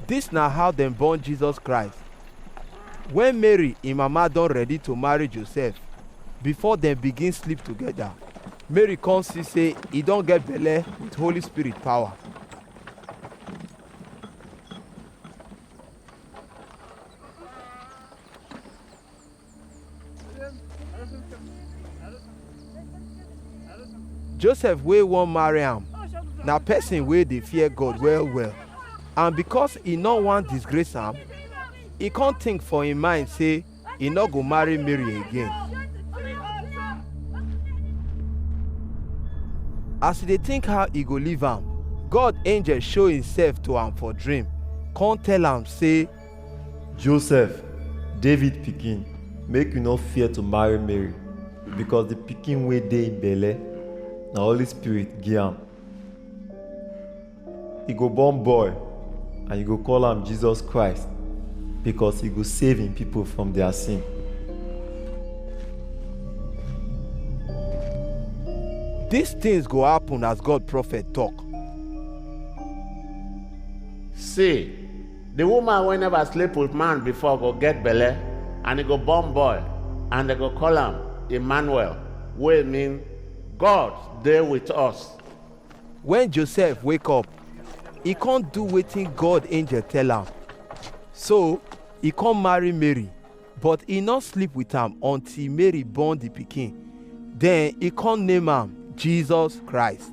Dis na how dem born Jesus Christ. Wen Mary im mama don ready to marry Joseph, before dem begin sleep togeda, Mary come see sey e don get belle with Holy Spirit power. joseph wey wan marry am na person wey dey fear god well well and because e no wan disgrace am e come think for im mind say e no go marry mary again as e dey think how e go leave am god angel show himself to am for dream come tell am say Joseph, David pikin, make you no fear to marry Mary, because the pikin wey dey im belle na Holy Spirit give am. He go born boy and you go call am Jesus Christ because he go save him people from their sin. These things go happen as God prophet talk. See, the woman wey never sleep with man before go get belle and e go born boy and dem go call am Emmanuel wey mean God dey with us. Wen Josef wake up, e kon do wetin God angel tell am. So, e kon marry Mary, but e nor sleep wit am until Mary born di pikin, den e kon name am Jesus Christ.